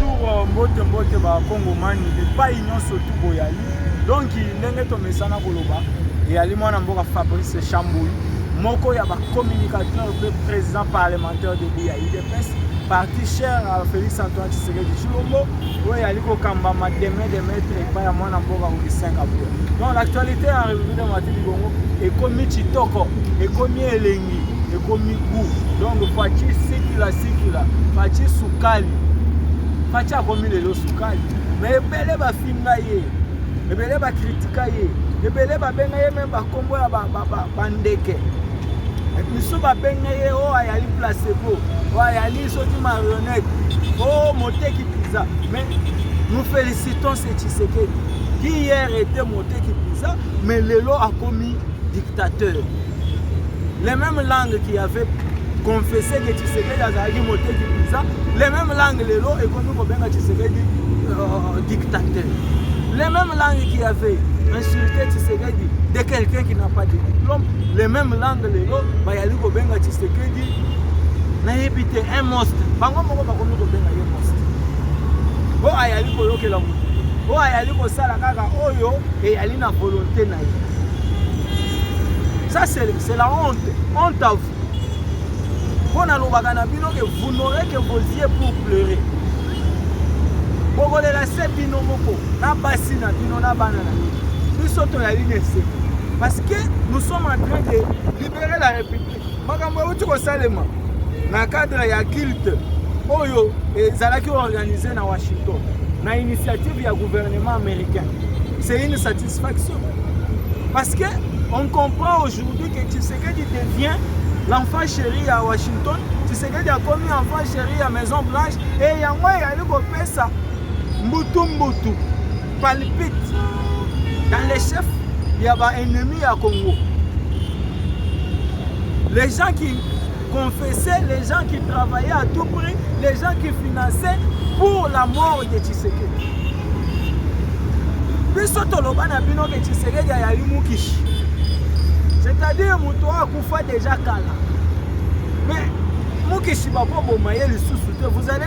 Bonjour, mbote mbote ba Kongomani epai nyonso tu boyali. Donc ndenge tomesana koloba eyali mwana mboka Fabrice Chambouy moko ya ba communicateur mpe président parlementaire de ya UDPS parti cher à Félix Antoine Tshisekedi Tshilombo oyo eyali kokambama deme de maître epai ya mwana mboka Augustin Kabuya. Donc l'actualité ya République de Matili Bongo ekomi kitoko, ekomi elengi. ekomi gout donc faci sikila sikila faci sukali faci akomi lelo sukali me ebele bafinga ye ebele bakritika ye ebele babenga ye meme bakombo ya bandeke misu babenga ye oyo oh, ayali placebo oyo oh, ayali soki marionnette o oh, moteki mpenza mais nous félicitons ce tshisekedi qui hier était moteki mpenza mais lelo akomi dictateur les mêmes langues qui avait confessé que Tshisekedi azalaki moteki mpenza les mêmes langues lelo ekomi kobenga Tshisekedi euh, dictateur les mêmes langues qui avait insulté Tshisekedi de quelqu'un qui n'a pas de diplôme les mêmes langues lelo bayali kobenga Tshisekedi nayebi te un monstre bango moko bakomi kobenga ye monstre oyo ayali koyokela moto oyo ayali kosala kaka oyo eyali na volonté na Ça c'est la honte, honte à vous. mpo nalobaka na bino ke vous n'aurez que vos yeux pour pleurer bokolela se bino moko na basi na bino na bana na bino biso toyali na eseko parce que nous sommes en train de libérer la république makambo euti kosalema na cadre ya culte oyo ezalaki organise na washington na initiative ya gouvernement américain c'est une satisfaction parce que on comprend aujourd'hui que tshisekedi devient l'enfant chéri ya washington tshisekedi akomi enfant chéri ya maison blanche e yango eyali kopesa mbutu mbutu palpite dans les chefs ya ba ennemis ya Congo les gens qui confessaient les gens qui travaillaient à tout prix les gens qui finançaient pour la mort de Tshisekedi biso toloba na bino ke Tshisekedi ayali mukishi c'est-à-dire moto oyo akufa déjà kala mais mukishi bakoboma ye lisusu te vous allez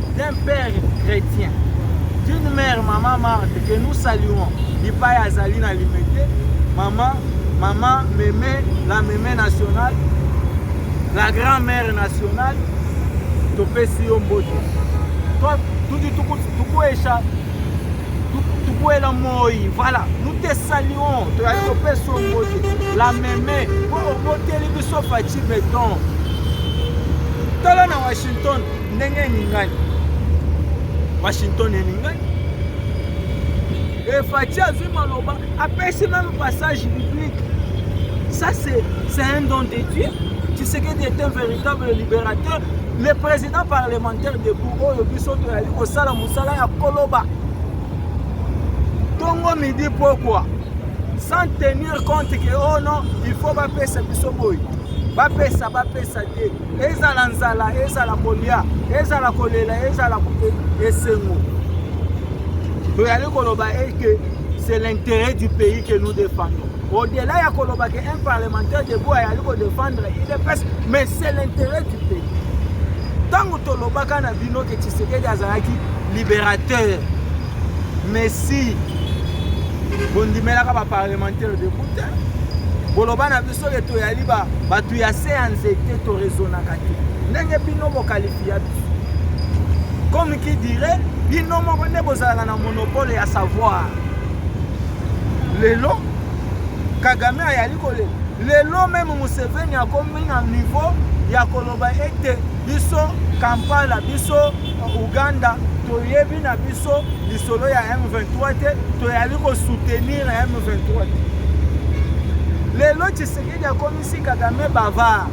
d'un père chrétien, d'une mère maman Marthe que nous saluons, Lipaye azali na limete, maman maman Meme, la Meme nationale, la grand-mère nationale, topesi yo mbote. Toi, tutu tuku tuku esha tukuela moi voilà nous te saluons toyali kopesa yo mbote la meme mpo oboteli biso faci beton tala na washington ndenge eningani washington eningani efati azwi maloba apesi meme passage biblique ça c'est un don de dieu tshisekedi est un véritable libérateur le président parlementaire debout oyo biso toyali kosala mosala ya koloba tongo midi pokwa sans tenir compte que oh non il faut bapesa biso boye bapesa bapesa te ezala nzala ezala kolia ezala kolela ezala esengo toyali koloba eke c'est l'intérêt du pays que nous défendons au-delà ya koloba ke un parlementaire debout ayali kodefendre idps mais c'est l'intérêt du pays ntango tolobaka na bino ke tshisekedi azalaki libérateur messi bondimelaka baparlementaire debout te boloba na biso soki toyali bato ya se ya nzete torezonaka te ndenge bino bokalifia biso comme qui dirait bino moko nde bozalaka na monopole ya savoir lelo kagame ayali kolela lelo meme museveni akomi na niveau ya koloba ete biso kampala biso uganda toyebi na biso lisolo ya m23 te toyali kosoutenir na m23 te lelo tshisekedi akomisi kagame bavard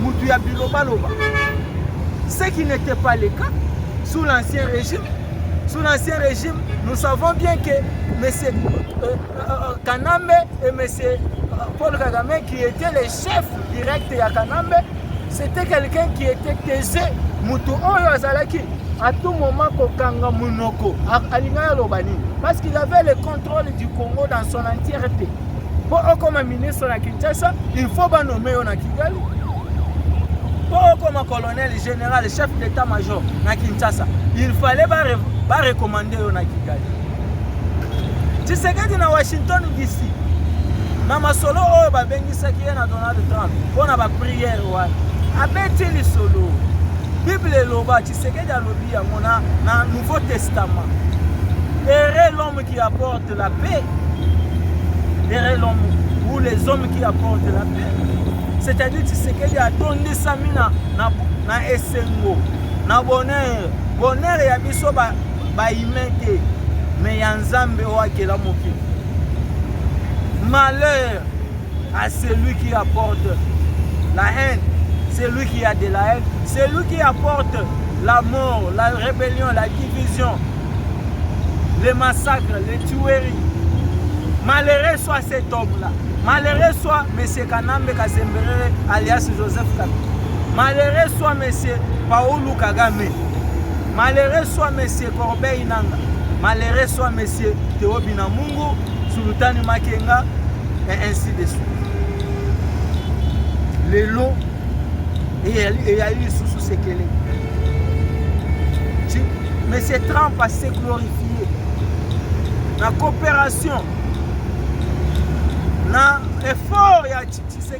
motu ya bilobaloba ce qui n'était pas le cas sous l'ancien régime sous l'ancien régime nous savons bien que monsieur euh, euh, euh kanambe et monsieur euh, paul kagame qui était les chefs directs ya kanambe C'était quelqu'un qui était taisé, mutu oyo azalaki à tout moment kokanga munoko alingaki aloba nini parce qu'il avait le contrôle du Congo dans son entièreté mpo okoma ministre na Kinshasa il faut banome yo na Kigali mpo okoma colonel général chef d'état major na Kinshasa il fallait barecommande yo na Kigali tshisekedi na washington dc na masolo oyo babengisaki ye na donald trump mpo na bapriere wana abeti lisolo bible eloba tshisekedi alobi yango na, na nouveau testament ere l'homme qui apporte la paix ere l'homme ou les hommes qui apporte la paix c'est-à-dire tshisekedi atondisami na, na, na esengo na bonheur bonheur ya biso ba ba humain te mais ya nzambe oyo akela mokili malheur à celui qui apporte la haine celui qui a de la haine celui qui apporte la mort la rébellion la division les massacres les tueries malheureux soit cet homme là malheureux soit monsieur kanambe kasemberere alias joseph kabila malheureux soit monsieur paulu kagame Malere swa Monsieur Corbeil Nanga, malere swa Monsieur Theo Binamungu, Sultani Makenga, et ainsi de suite. Lelo, eyali lisusu sekele. Monsieur Trump a se glorifié na coopération na effort ya Tshisekedi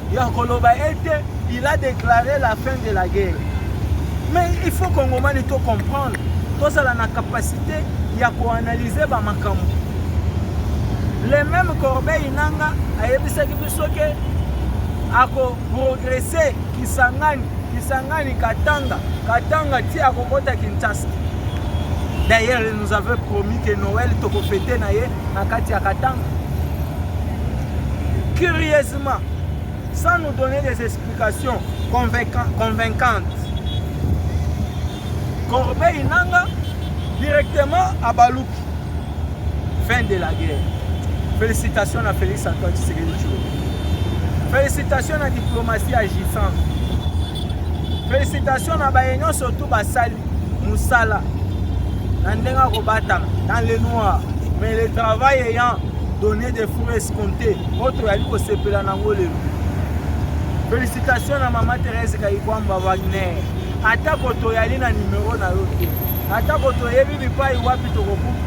ya koloba ete il a déclaré la fin de la guerre mais il faut kongomani to comprendre tozala na capacité ya koanalyse bamakambo le même corbeille nanga ayebisaki biso ke akoprogrese kisangani kisangani katanga katanga ti akokota kinshasa d'ailleurs il nous avait promis que noël tokofete na ye na kati ya katanga curieusement sans nous donner des explications convaincantes corbeille nanga directement abaluki fin de la guerre félicitations na félix antoine tshisekedi tshilombo félicitations na diplomatie agissante félicitations na baye nyonso tu basali musala na ndenge akobatama dans le noir mais le travail ayant donné des fruits escomptés oyo toyali kosepela nango lelo félicitation na mama therese kayikwamba wagner atako toyali na nimero na yo te atako toyebi bipai wapi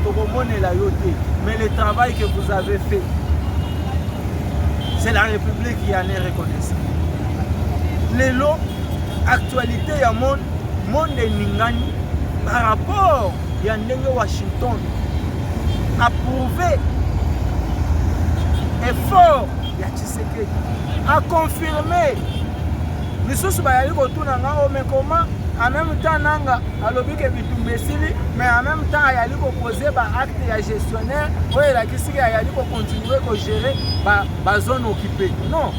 tokomonela yo te mais le travail que vous avez fait c'est la république qui en est reconnaissant lelo actualité ya monde Monde eningani par rapport ya ndenge Washington approuve effort ya Tshisekedi a confirmer misusu bayali kotuna nga o oh, mekoma en même temps nanga alobi ke bitumba esili mais en même temps ayali kopose baacte ya gestionnaire oyo elakisi ke ayali kocontinue kogere bazone ba occupé non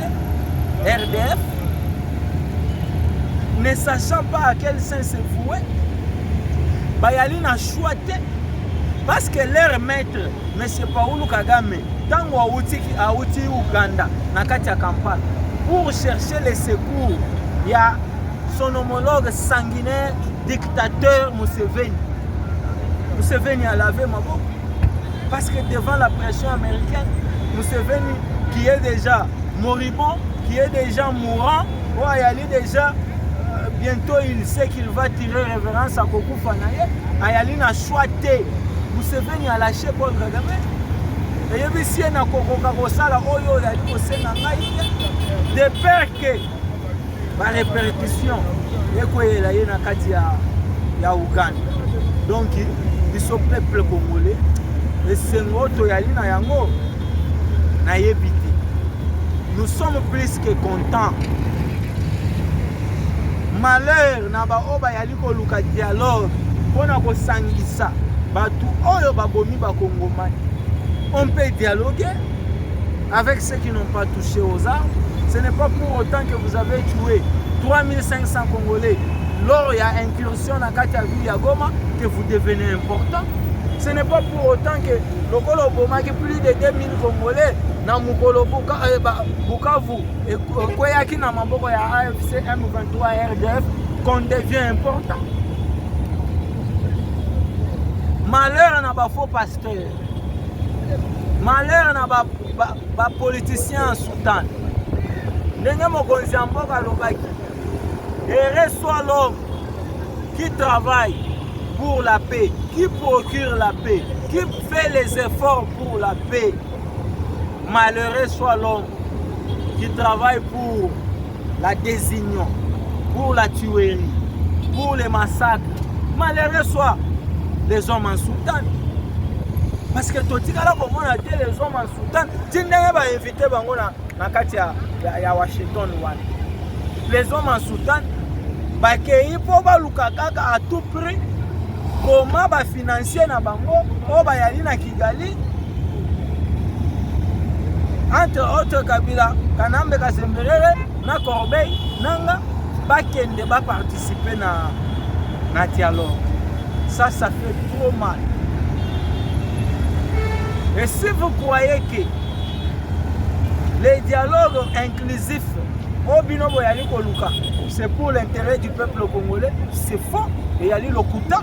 RDF, ne sachant pas à quel sein se vouer, bayali na choix te parce que leur maître M. Paolo Kagame ntango awuti awuti Uganda na kati ya Kampala pour chercher les secours ya son homologue sanguinaire dictateur Museveni Museveni alave maboko Parce que devant la pression américaine, Museveni, qui est déjà moribond, qui est déjà mourant, oh, ayali déjà euh, bientôt il sait qu'il va tirer révérence à Kokufa Naye, ayali na choix te. Museveni a lâché Paul Kagame. eyebisi ye na kokoka kosala oyo oyali kosenga ngai te de peur ke ba repercussion ekoyela ye na kati ya, ya Uganda. Donc biso peuple congolais esengo toyali na yango nayebi te. Nous sommes plus que contents. Malheur na baoyo bayali koluka dialogue mpo na kosangisa bato oyo babomi bakongomani on peut dialoguer Avec ceux qui n'ont pas touché aux armes, ce n'est pas pour autant que vous avez tué 3500 Congolais lors il y a incursion na kati ya ville ya Goma que vous devenez important. Ce n'est pas pour autant que lokola obomaki plus de 2000 Congolais na mokolo eh, Bukavu ekweyaki na maboko ya AFC M23 RDF qu'on devient important. Malheur na ba faux pasteurs. malheur na ba, ba, ba politicien ya sultan ndenge mokonzi ya mboka alobaki ere soit l'homme qui travaille pour la paix qui procure la paix qui fait les efforts pour la paix malheureux soit l'homme qui travaille pour la désunion, pour la tuerie, pour les massacres. Malheureux soit les hommes en Soudan. Parce que totikala komona te les hommes en Soudan ti ndenge bainvite bango na, na kati ya, ya, ya Washington wana. Les hommes en Soudan bakei mpo baluka kaka à tout prix koma bafika financier na bango oyo bayali na Kigali entre autres Kabila Kanambe Kasemberere na Corbeil nanga bakende ba participer na na dialogue ça ça fait trop mal et si vous croyez que les dialogues inclusifs oyo bino boyali koluka c'est pour l'intérêt du peuple congolais c'est faux eyali lokuta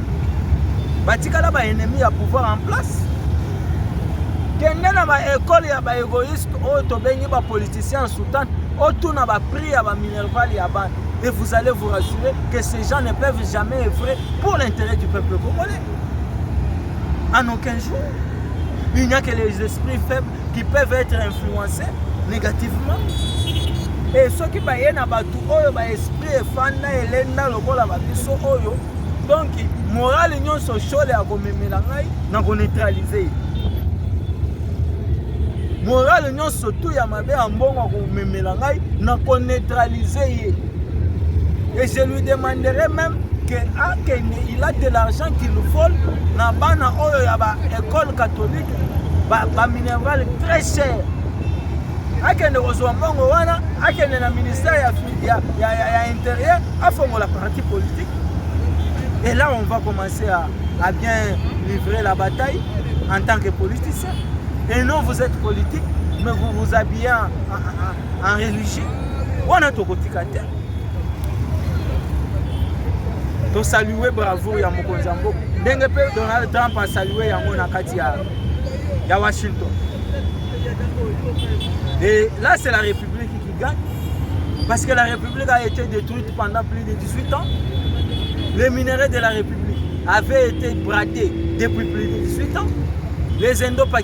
batikala ba ennemi ya pouvoir en place kende na baekole ya baegoïste oyo tobengi bapoliticien soutan otuna baprix ya baminerval ya bana et vous allez vous rassurer que ces gens ne peuvent jamais œuvrer pour l'intérêt du peuple congolais en aucun jour il n'y a que les esprits faibles qui peuvent être influencés négativement e soki baye na bato oyo baesprit efanda elenda lokola babiso oyo donc morale nyonso shole akomemela ngai na koneutralize ye morale nyonso tu ya mabe ya mbongo akomemela ngai na koneutralize ye et je lui demanderai même que akende il a de l'argent qu'il vole na bana oyo ya baekole catholique ba, ba minerval très cher akende kozwa mbongo wana akende na ministère ya, ya, ya, ya, ya intérieur afongola parti politique et là on va commencer à, à bien livrer la bataille en tant que politicien et non vous êtes politique mais vous vous habillez en, en, en, en religieux wana tokotika te tosalue bravo ya mokonzi ya mboka ndenge mpe donald trump asalue yango na kati ya, ya washington et là c'est la république qui gagne parce que la république a été détruite pendant plus de 18 ans les minerais de la république avaient été bratés depuis plus de 18 ans les indo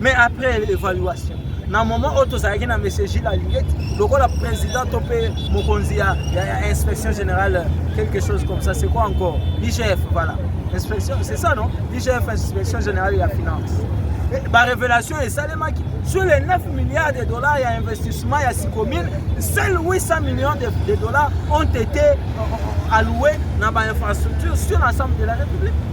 mais après l'évaluation na moment oyo tozalaki na monsieur gile alingeti lokola président to mpe mokonzi ya, ya, ya inspection générale quelque chose comme ça c'est quoi encore igf voilà inspection c'est ça non igf inspection générale ya finance barévélation esalemaki sur les 9 milliards de dollars ya investissement ya sicomine seul 800 millions de, de dollars ont été euh, euh, alloués na bainfrastructure sur l'ensemble de la république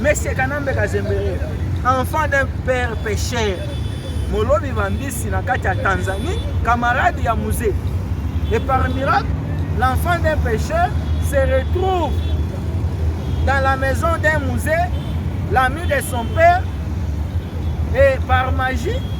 Monsieur Kanambe Kazembere, enfant d'un père pécheur, molobi bambisi na kati ya Tanzanie, camarade ya musée. Et par miracle, l'enfant d'un pécheur se retrouve dans la maison d'un musée, l'ami de son père, et par magie,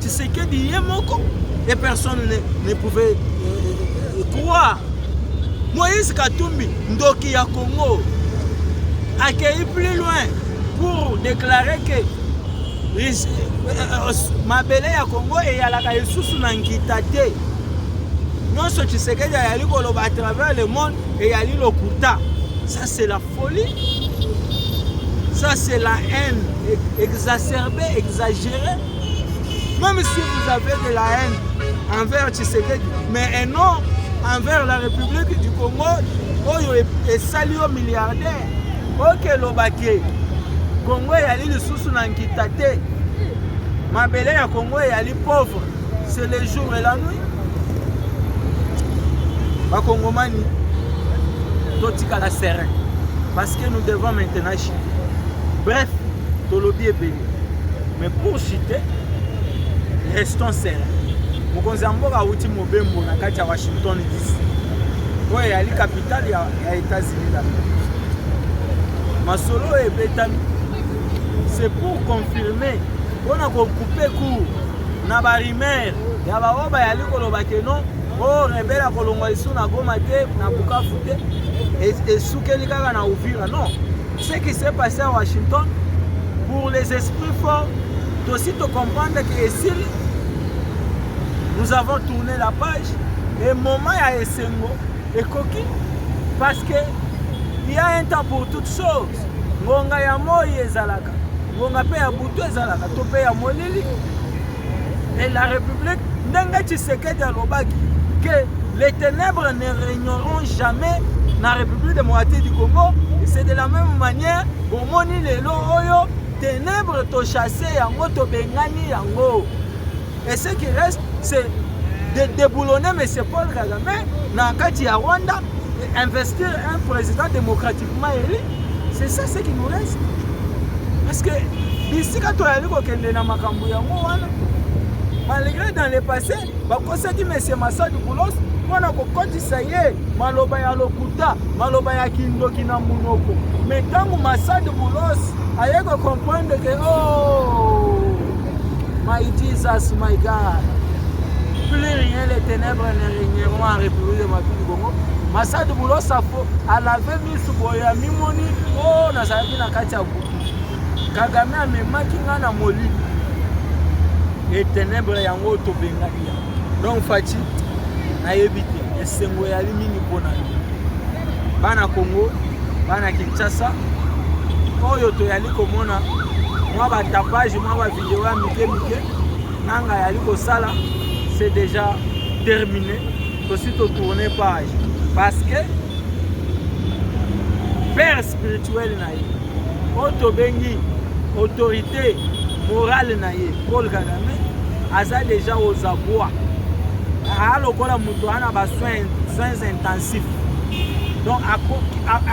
Tshisekedi ye moko et personne ne, ne pouvait euh, euh, euh, croire Moïse Katumbi ndoki ya Congo accueilli plus loin pour déclarer que euh, euh, mabele ya Congo eyalaka lisusu na nkita te nyonso Tshisekedi ayali koloba à travers le monde eyali lokuta ça c'est la Folie ça c'est la haine exacerbée exagérée même si vous avez de la haine envers Tshisekedi mais non envers la République du Congo oyo esali yo milliardaire okelobake Congo eyali lisusu na nkita te mabele ya Congo eyali pauvre c'est le jour et la nuit bakongomani totikala serein parce que nous devons maintenant chiter bref tolobi ebele mais pour chiter restons serein mokonzi ya mboka awuti mobembo na kati ya washington dc oyo eyali capitale ya, ya états-unis d'amerique masolo oyo ebetami c'est pour confirmer mpona kokupe cour na ba rumeur ya ba oyo bayali koloba ke non o oh, rebele akolongwa lisu na goma te na bukavu te esukeli kaka na uvira non ce qui s'est passé à washington pour les esprits forts tosi tocomprendre ke esili nous avons tourné la page e moment ya esengo ekoki parce que il y a un temps pour toute chose ngonga ya moi ezalaka ngonga mpe ya butu ezalaka to mpe ya molili et la république ndenge tshisekedi alobaki que les ténèbres ne régneront jamais na république démocratique du congo c'est de la même manière bomoni lelo oyo ténèbres tochasse yango tobengani yango et ce qui reste c'est de déboulonner monsieur paul kagame na kati ya rwanda investir un président démocratique mayele c'est ça ce qui nous reste parce que bisika toyali kokende na makambo yango wana malgré dans le passé bakosaki monsieur masadi boulos mpo na kokotisa ye maloba ya lokuta maloba ya kindoki na monoko me ntango masadi boulos aye kocomprendre ke o oh, my jesus my god plus rien les ténèbres ne régneront en république de ma Masadi Bulosa po alave misu boye amimoni o oh, nazalaki na kati ya buku Kagame amemaki ngai na molili e tenebre yango oyo tobengaki yango donc faci nayebi te esengo eyali mingi mpo na yo bana kongo bana kinshasa oyo toyali komona mwa batapage mwa bavideo ya mike mike nanga yali kosala c'est déjà terminé tosi to tourne page parce que père spirituel na ye oyo tobengi autorité morale na ye paul kagame aza deja ozabwa aa lokola moto aa na basoin soins intensif donc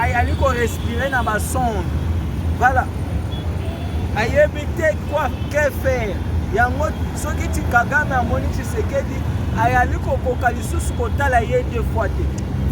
ayali korespire na basonde voilà ayebi te quoi que faire yango soki ti kagame amoni tshisekedi ayali kokoka lisusu kotala ye deux fois te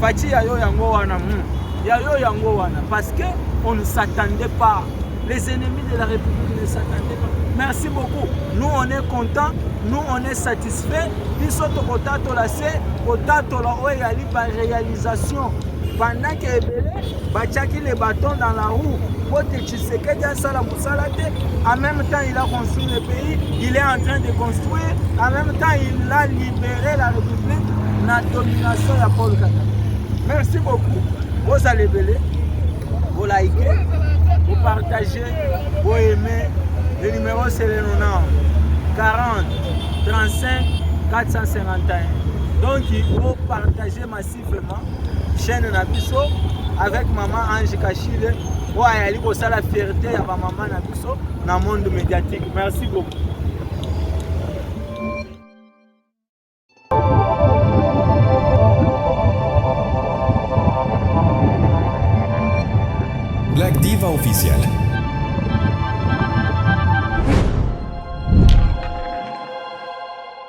faci ya yo yango wana hmm. ya yo yango wana parce que on ne s'attendait pas les ennemis de la république ne s'attendaient pas merci beaucoup nous on est content nous on est satisfait biso tokotatola se kotatola oyo eyali baréalisation bandaki ebele batiaki le baton dans la roue mpo te Tshisekedi asala mosala te en même temps il a construit le pays il est en train de construire en même temps il a libéré la république na domination ya Paul Kagame merci beaucoup bozala ebele bolaike bopartage boaime le numéro c'est le 90 40 35 451 donc bopartage Merci vraiment chaîne na biso avec maman Ange Kashile oyo ayali kosala fierté ya bamama na biso na monde médiatique merci beaucoup Black Diva Official.